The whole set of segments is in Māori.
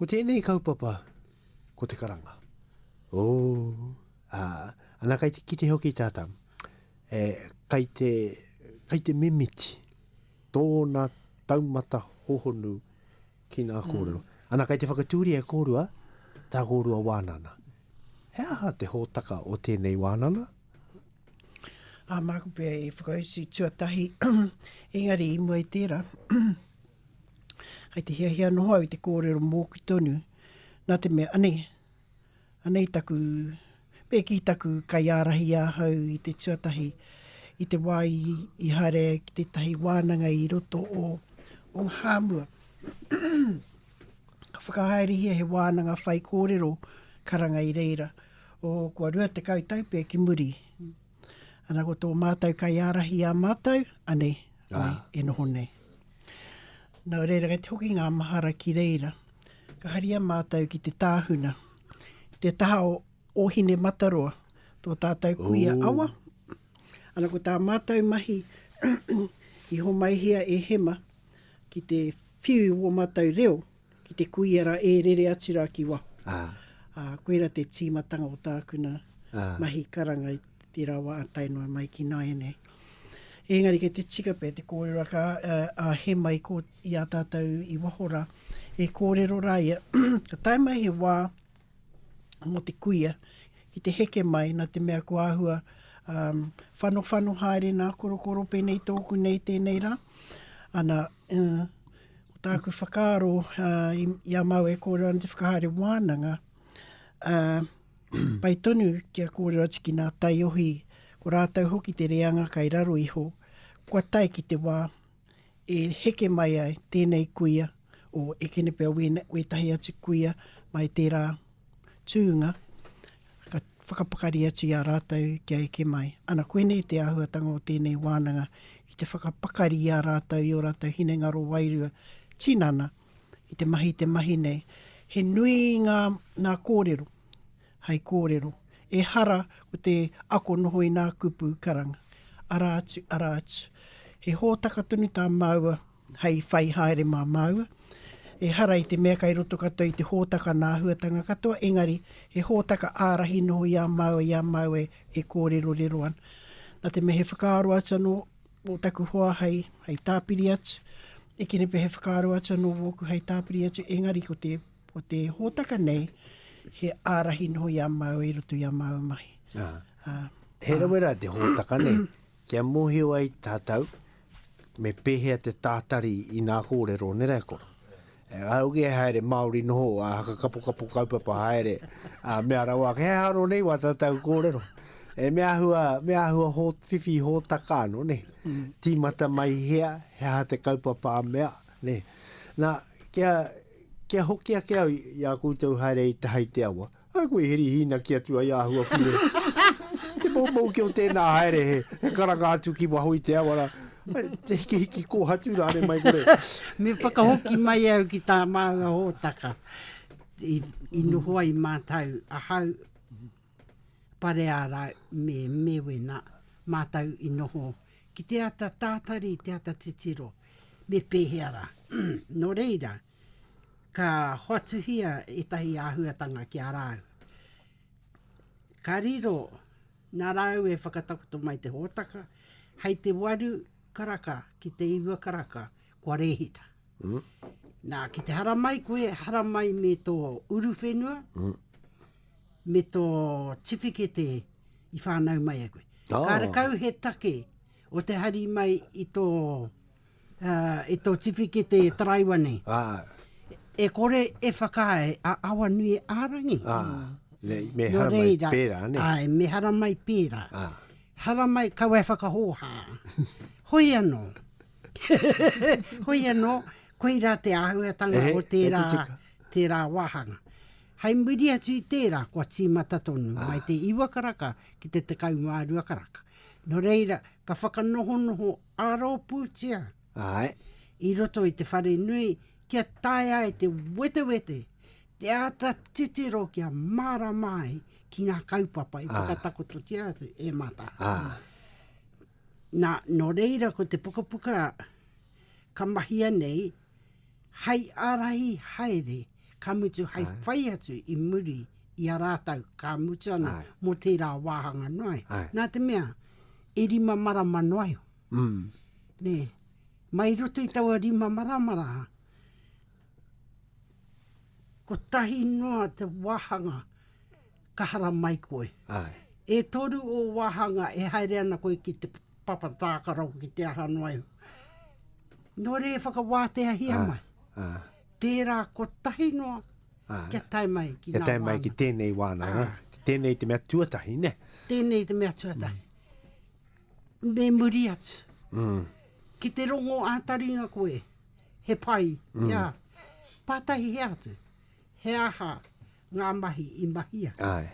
Ko tēnei kaupapa, ko te karanga. Ooh, aa, ana kai te kite hoki tata, e, kai te, kai te mimiti tōna taumata hohonu ki ngā kōrero. Ana kai te whakatūria e kōrua, tā kōrua wānana. He aha te hōtaka o tēnei wānana? Ā, māku pea e whakautu tuatahi, engari i mua i tērā, Kei te hiahia noho au i te kōrero mōku tonu, nā te mea, anei, anei taku, me kī taku kaiārahi ahau i te tuatahi, i te wā i haere ai ki tētahi wānanga i roto o Onghaamua. Ka whakahaerehia he wānanga whaikōrero karanga i reira o kua 20 tau pea ki muri. Ana ko tō mātou kaiārahi i a mātou, anei, anei, ah. e noho nei. Nō reira, kei te hoki ngā mahara ki reira. Ka haria mātou ki te tāhuna, te taha o, o Hine Mataroa, tō tātou kuia Ooh. awa. Ana ko tā mātou mahi i homaihia e Hema ki te whiu o mātou reo. Ki te kuia ra e rere atu ra ki waho. A, koira te timatanga o tāku na mahi karanga i tera wa a tae noa mai ki nāianei. Engari kei te tika pea te kōrero a, a Hemai ko, i a tātou i waho ra, e kōrero ra ia, ka tae mai he wā, mō te kuia ki te heke mai, nā te mea kua āhua whanowhano haere nā korokoro, pēnei tōku nei tēnei rā. Ana, ko tāku whakaaro i a māu e kōrero ana te whakahaere wānanga, pai tonu kia kōrero atu ki nā taiohi, ko rātou hoki te reanga kai raro iho, kua tae ki te wā e heke mai ai tēnei kuia o Ekenepea wētahi atu kuia mai tērā tūnga ka whakapakari atu i a rātou kia eke mai. Ana koinei te āhuatanga o tēnei wānanga ki te whakapakari i a rātou i ō rātou hinengaro wairua tinana i te mahi te mahi nei. He nui ngā kōrero hei kōrero, ehara ko te ako noho i nā kupu karanga, arā atu, arā atu. He hōtaka tonu tā māua hei whai haere mā māua, ehara i te mea kei roto katoa i te hōtaka nā āhuatanga katoa, engari he hōtaka ārahi noho i a māua, i a māua e kōrerorero ana. Nā te mea he whakaaro atu anō o taku hoa hei, hei tāpiri atu, e kene pea he whakaaro atu anō wōku hei tāpiri atu, engari ko te Ko te hōtaka nei, he ārahi noho i a māua i roto i a māua mahi. Ā. Ā. He rawe rā te hōtaka nei, kia mōhio ai tātou me pēhea te tātari i nā kōrero nē rae koro. Auge e haere Māori noho, ā, hakakapokapo kaupapa haere, ā, mea rawa ake, he aro nei wā tātou kōrero. E me āhua, me āhua hō, whiwhi hōtaka anō, nē. Tīmata mai hea, he aha te kaupapa a mea, nē. Nā, kia, Kia hoki ake au i a koutou haere i te hai te awa. Ai koe he rihiinaki atu ai āhua ki rē. Te moumou ki o tēnā haere he karanga atu ki waho i te awa rā. Te hikihiki kōhatu rānei mai kore. Me whakahoki mai au ki tā māua hōtaka i noho ai mātou ahau Pareārau me Mewena mātou i noho ki te ata tātari, te ata titiro, me pēhea rā. Nō reira, ka hoatuhia ētahi āhuatanga ki a rāu. Ka riro nā rāu e whakatakoto mai te hōtaka, hei te waru karaka ki te iwa karaka kua rēhita. Nā, ki te haramai koe, haramai me tō uruwhenua, me tō tiwhikete i whānau mai e koe. Ka rakau he take o te hari mai i tō, i tō tiwhikete taraiwa nei. E kore e whakaae a Awanuiārangi. Me hara mai pērā, nē? Āe, me hara mai pērā. Hara mai, kaua e whakahōhā. Hoi anō. Hoi anō, koirā te āhuatanga o tērā, tērā wāhanga. Hei muri atu i tērā, kua tīmata tonu, mai te iwa karaka ki te tekau mā rua karaka. Nō reira, ka whakanohonoho ā-rōpūtia i roto i te whare nui kia taea e te wetewete te āta titiro kia mārama ai ki ngā kaupapa i whakatakototia atu e Mata. Nā, nō reira ko te pukapuka ka mahia nei hei ārahi haere. ka mutu hai whai atu i muri i a rātou, ka mutu ana mō tērā wāhanga noa ai. Nā te mea, e rima marama noa iho. Nē, mai roto i taua rima marama rā, kotahi noa te wāhanga ka haramai koe. E toru ō wāhanga e haere ana koe ki te papa tākaro ki te aha noa iho. Nō reira e whakawāteahia mai. Tērā kotahi noa ah. kia tae mai ki Kia tae mai ki tēnei wāna. Ah. Tēnei te mea tuatahi, ne? Tēnei te mea tuatahi. Mm. Me muri atu. Mm. Ki te rongo ātaringa koe, he pai, mm. ia, pātahi he atu, he aha ngā mahi i mahia. Ai.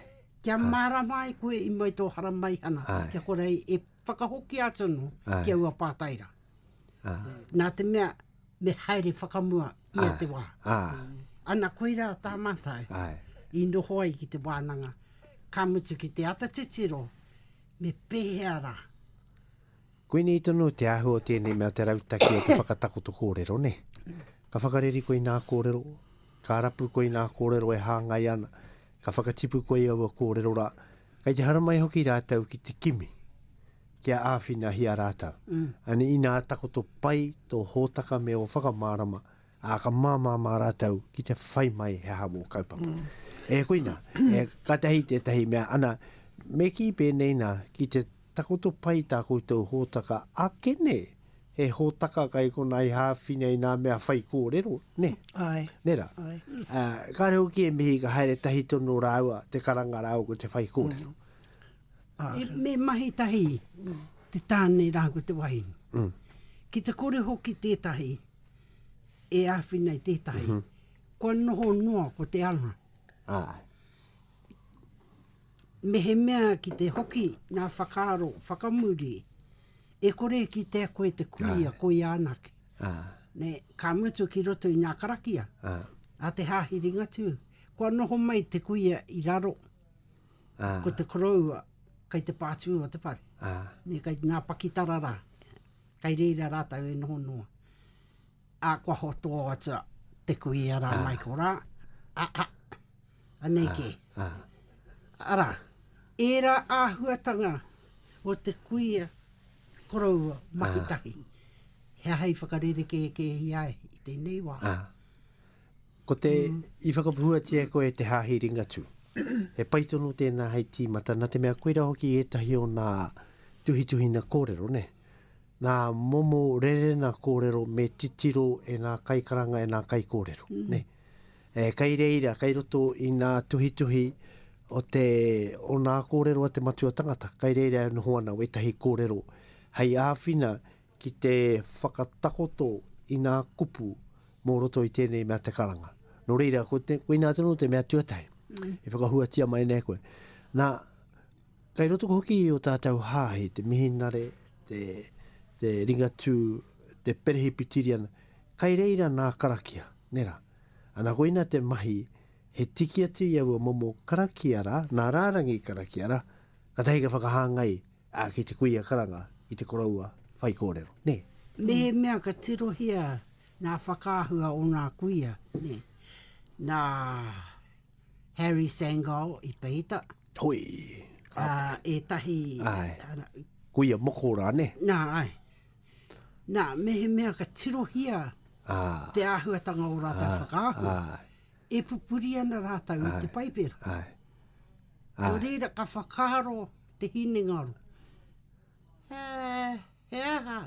Kia ah. mārama ai koe i mai tō hara maihana, Ai. kia korei e Whakahokia tonu ki aua pātai rā. Nā te mea, me haere whakamua ia te wā. Ana koirā tā mātou i noho ai ki te wānanga, ka mutu ki te ata titiro, me pēhea rā? Koinei tonu te āhua o tēnei mea te rautaki o te whakatakoto kōrero, nē. Ka whakareri koe i ngā kōrero, ka rapu koe i ngā kōrero e hāngai ana, ka whakatipu koe i aua kōrero rā, Kei te haramai hoki rātou ki te kimi, kia āwhinahia rātou. Ane, inā takoto pai tō hōtaka me ō whakamārama, ā, ka māmā mā rātou ki te whai mai he aha mō kaupapa. E koina, e, kātahi tētahi mea, ana, me kī pēnei nā, ki te Takoto pai tā koutou hōtaka ake, nē? He hōtaka kai konā i hāwhina i ngā mea whai kōrero, nē? Āe. Nē rā. Āe. Ā, kāre hoki e mihi ka haere tahi tonu rāua, te karanga rāua ko te whai kōrero. Āe. Me mahi tahi te tāne rāua ko te wahine. Ki te kore hoki tētahi e āwhina i tētahi, kua noho noa ko te anga. Āe. Mehemea ki te hoki ngā whakaaro whakamuri, e kore e kitea koe te kuia koia anake. Ka mutu ki roto i ngā karakia a te Hāhi Ringatū, kua noho mai te kuia i raro, ko te koroua kei te pātū o te whare, kei ngā pakitara rā, kei reira rātou e noho noa. A kua hoto atu te kuia rā mai ko rā, a, a, anei kē. Arā, ērā āhuatanga o te kuia koroua mahi tahi, he aha i whakarerekēkēhia ai i tēnei wā? Ko te, i whakapuatia e koe te Hāhi Ringatū, he pai tonu tēnā hei tīmata, nā te mea koira hoki ētahi o nā tuhituhina kōrero, nē? ngā momo rerena kōrero me titiro e ngā kaikaranga, e ngā kaikōrero. Kei reira, kei roto i ngā tuhituhi o ngā kōrero a Te Matua Tangata, kei reira e noho ana wētahi kōrero hei āwhina ki te whakatakoto i ngā kupu mō roto i tēnei mea te karanga. Nō reira, koinā tonu te mea tuatahi i whakahuatia mai nei koe. Nā. Kei roto hoki i ō tātou hāhi te mihinare, te, te Ringatū, te Perehipitiriana, kai reira nā karakia, nē rā. Ana koina te mahi, he tiki atu i aua momo karakia rā, nā rārangi karakia rā, katahi ka whakahāngai, ā, ki te kuia karanga, ki te koroua whaikōrero, nē. Mehemea ka tirohia ngā whakaahua o ngā kuia, nē. Nā Harry Sangall i peita. Hoi. Ā, ētahi... Āe. Āna. Ko ia moko rā, nē? Nā, āe. Nā, mehemea ka tirohia... Ā. Te āhuatanga o ō rātou whakaahua. Ā, āe. E pupuri ana rātou i te Paipera. Āe, āe. Nō reira, ka whakaaro te hinengaro, He, he aha?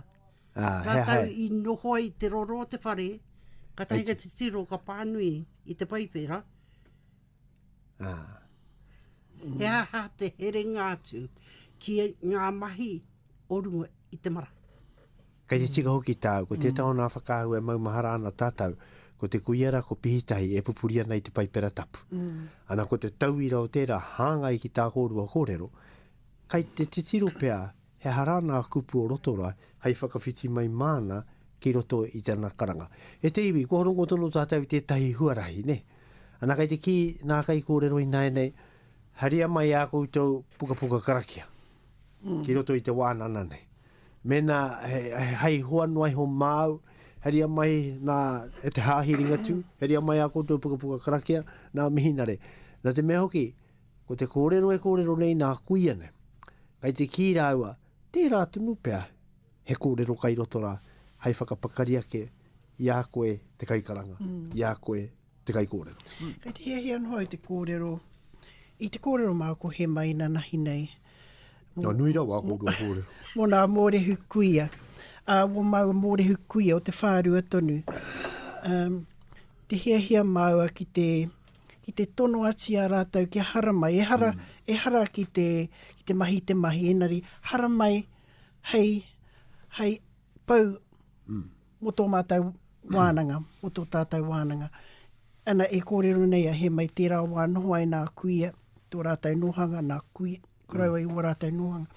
Ā, he aha? Rātou i noho ai te roro o te whare, kātahi ka titiro, ka pānui i te Paipera. Ā, he aha te herenga atu ki ngā mahi o runga i te marae? Kei te tika hoki tāu, ko tētahi o nā whakaahua e maumahara ana tātou, ko te kuia rā, ko Pihitahi, e pupuri ana i te Paipera Tapu. Ana ko te tauira o tērā, hāngai ki tā kōrua kōrero, kei te titiro pea He aha rāna a Kupu o Rotorai hei whakawhiti mai māna ki roto i tana karanga. E te iwi, kua rongo tonu tātou i tētahi huarahi, nē? Ana kei te kī nā kaikōrero ināianei, haria mai ā koutou pukapuka karakia ki roto i te wānana nei. Mēnā hei hoa noa iho māu, haria mai nā e te Hāhi Ringatū, haria mai ā koutou pukapuka karakia, nā mihinare. Nā te mea hoki, Ko te kōrero e kōrero nei nā kuia nei. Kai te kī rāua, tērā tonu pea he kōrero kai roto rā hai whakapakari ake i a koe te kaikaranga, i a koe te kaikōrero. Kai te hiahia noa au te kōrero, i te kōrero māu ko He Mai na nahi nei. Nō nui rawa aku orua kōrero. Mō nā mōrehu kuia, ā, mō māua mōrehu kuia o te whārua tonu. Te hiahia māua ki te. ki te tono atu i a rātou kia haramai, ehara, ehara ki te, ki te mahi i te mahi, engari haramai hei, hei pau mō tō mātou wānanga, mō tō tātou wānanga. Ana, e kōrero nei a Hēmai, tērā wā noho ai nā kuia, tō rātou nōhanga, nā kui, koroua i ō rātou nōhanga.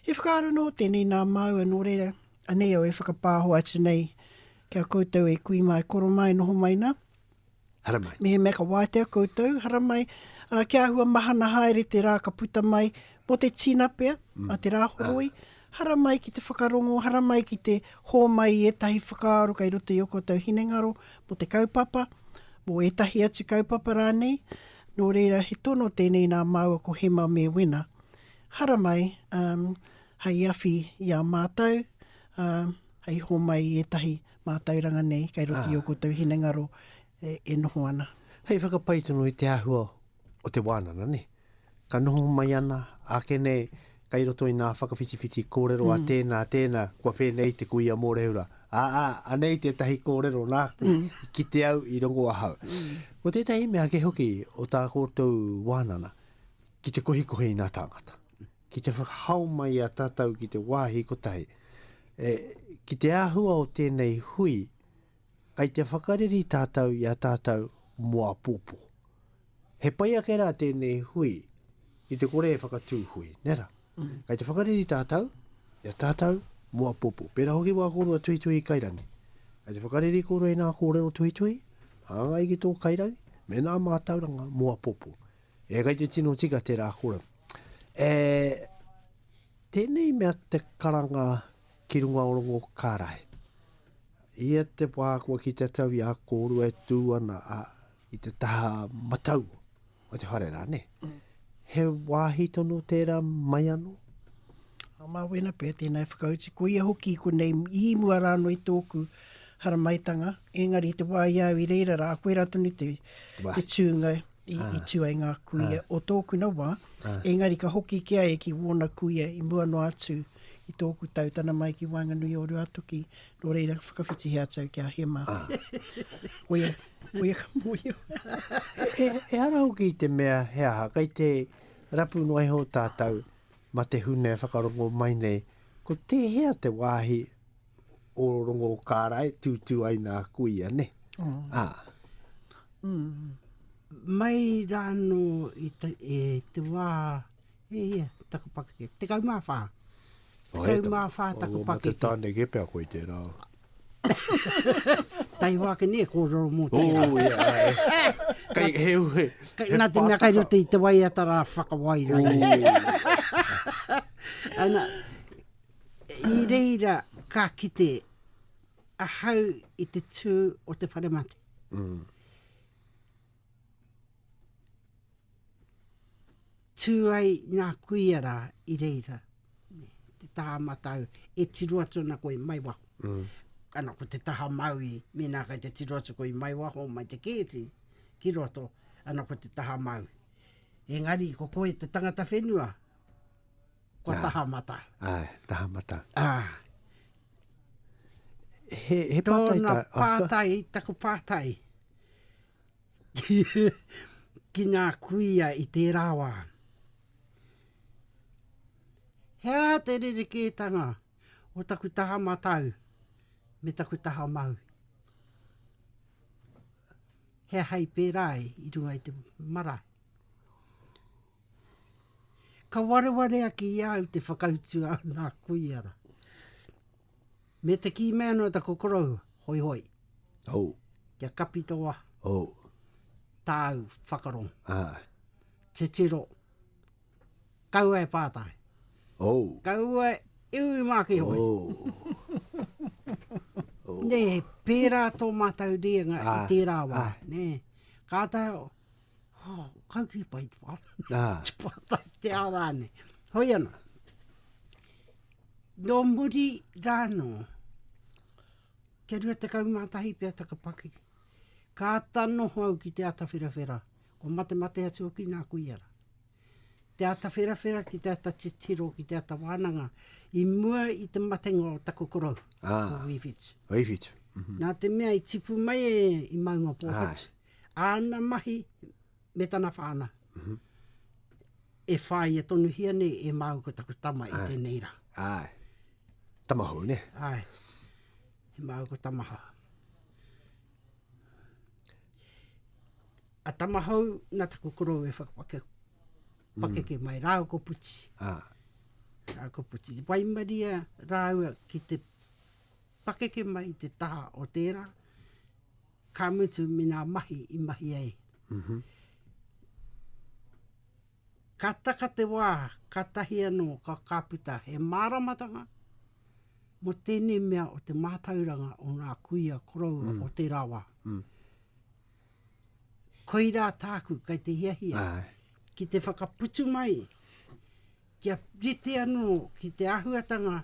He whakaaro nō tēnei nā māua, nō reira, anei au e whakapāho atu nei, kia koutou e kui mai, koro mai, noho mai nā, Haramai. Mihi mea ka wātea koutou, haramai, ā, kia āhua mahana haere te rā ka puta mai mō te tinapea a te Rāhoroi, haramai ki te whakarongo, haramai ki te hōmai i ētahi whakaaro kei roto i ō koutou hinengaro mō te kaupapa, mō ētahi atu kaupapa rānei. Nō reira, he tono tēnei nā māua ko Hema me Wena. Haramai, ā, hei awhi i a mātou, ā, hei hōmai i ētahi Mātauranga nei, kei roto i ō koutou hinengaro e noho ana. Hei whakapai tonu i te āhua o te wānanga, nē. Ka noho mai ana, ake nei, kei roto i ngā whakawhitiwhiti kōrero a tēnā, a tēnā, kua whēnei te kuia mōrehu-ra. Ā, ā, anei tētahi kōrero nāku i kite au, i rongo ahau. Ko tētahi mea ake hoki o tā koutou wānanga, ki te kohikohi i ngā tāngata. ki te whakahao mai i a tātou ki te wāhi kotahi. E, ki te āhua o tēnei hui, kai te whakareri tātou i a tātou mō apōpō. He pai ake rā tēnei hui, ki te kore e whakatū hui, nē rā? Mm. Kai te whakareri tātou, i a tātou mō apōpō. Pērā hoki wā kōrua tuhituhi kairani. Kai te whakareri kōrua i nā kōrero tuhituhi, hāngai ki tō kairangi, me nā mātauranga mō apōpō. E kei te tino tika tera kora. E tenei mea te karanga ki runga o rongo karae. Ia te wā kua ki te tau i a kōrua e tū ana a, i te taha matau o te whare rā, ne? Mm. He wāhi tono tērā mai anō? A mā wēna pē, tēnā e whakauti. Ko ia hoki i konei, i mua rā anō i tōku haramaitanga, engari te wā i au i reira rā, koe rā tonu te, te tūnga. i, ah. i tū ai ngā kuia ah. o tōkuna wā, ah. engari ka hoki ki ai ki wōna kuia i mua noa atu i tōku tau tana mai ki Waenganui o Ruatoki, nō reira whakawhiti he atau ki a Hema. Ah. Oia, oia ka mōio. e, e ara hoki te mea he aha, kai te rapu noa iho tātou ma te hune whakarongo mai nei, ko tēhea te wāhi o rongo o kāra e tūtū ai nā kuia, ne? Oh. Ah. Mm. Mai rāno i te, e te wā, e ia, taku pakake, te kau mā whā. Te kau mā whā taku pakake. Te tāne ke pia koe te rā. Tai hoa ke ne, ko roro mō te rā. Oh, yeah. Kai, he, he, he, nā te mea kai roto i te wai atara whakawai rā. Ana, I reira ka kite ahau i te tū o te whare mate. Mm. Tū ai ngā kuia rā i reira. Te taha matau, e tiro atu ana koe mai waho. Mm. Ana ko te taha maui, mēnā kai te tiro atu koe mai waho, mai te kēti, ki roto, ana ko te taha maui. Engari, ko koe te tangata whenua, Kua taha mata. Ai, taha mata. Ah. He, he pātai tā. Tōna pātai, taku pātai. Ki ngā kuia i tērā wā. Hea te rerekētanga o taku taha matau me taku taha mau. Hea hai pērā i runga i te marae. Ka wareware ake i a au te whakautu a nā kuia ra. Me te kī mai anō taku korou, Hoihoi. Hou. Kia kapi tō waha. Hou. Tāu whakarongo. Aha. Titiro. Kaua e pātai. Hou. Kaua e ui mā ki hoi. Hou. Nē, pērā tō mātou rīanga i tērā wā. Nē. Kātahi. Oh, kauwhi pai te pā. Ah. te pā tai te awa ane. Hoi ana. Nō muri rāno, kia rua te kau mātahi pia taka paki. Ka ata noho au ki te ata whirawhira. Ko mate mate atu ki nā kui ara. Te ata whirawhira ki te ata titiro, ki te ata wānanga. I mua i te matenga o taku korou. Ah. O Wīwhitu. Wīwhitu. Mm -hmm. Nā te mea i tipu mai e i maunga pōhatu. Ah. Āna mahi me tana whānau e whāia tonuhia nei e māu ko taku tama i tēnei rā. Āe. Tama hou, nē? Āe. E māu ko tama hou. A tama hou, nā taku korou e whakapakeke pakeke mai rāua ko Puti. Ā. Rāua ko Puti. I waimaria rāua ki te pakeke mai i te taha o tērā, Ka mutu me nā mahi i mahi ai. Ka taka te wā, kātahi anō ka ka puta he māramatanga mō tēnei mea o te mātauranga o ngā kuia koroua o tērā wā. Koirā tāku kei te hiahia ki te whakaputu mai, kia rite anō ki te āhuatanga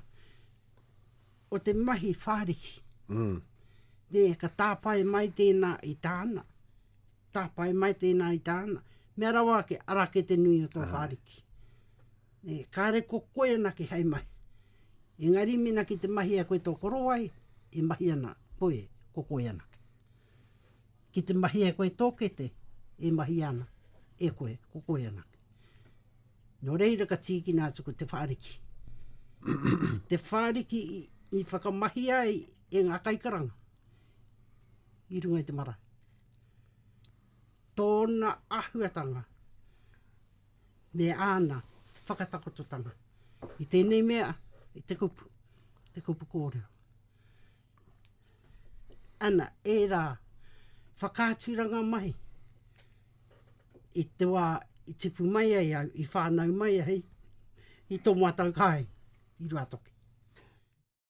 o te mahi whāriki. Nē, ka tāpae mai tēnā i tāna, tāpae mai tēnā i tāna, mea rawa ake, ara ake te nui o tō whāriki. Nē, kāre ko koe anake hei mahi. Engari mēnā ki te mahia koe tō korowai, e mahi ana koe, ko koe anake. Ki te mahia koe tō kete, e mahia ana e koe, ko koe anake. Nō reira ka tīkina atu ko Te Whāriki. Te Whāriki i whakamahia ai e ngā kaikaranga i runga i te marae. Tōna ahuatanga me āna whakatakototanga i tēnei mea, i te kupu, te kupu kōrero. ana ērā whakaaturanga mahi i te wā i tipu mai ai au, i whānau mai ai i tō mātou kāinga i Ruatoki.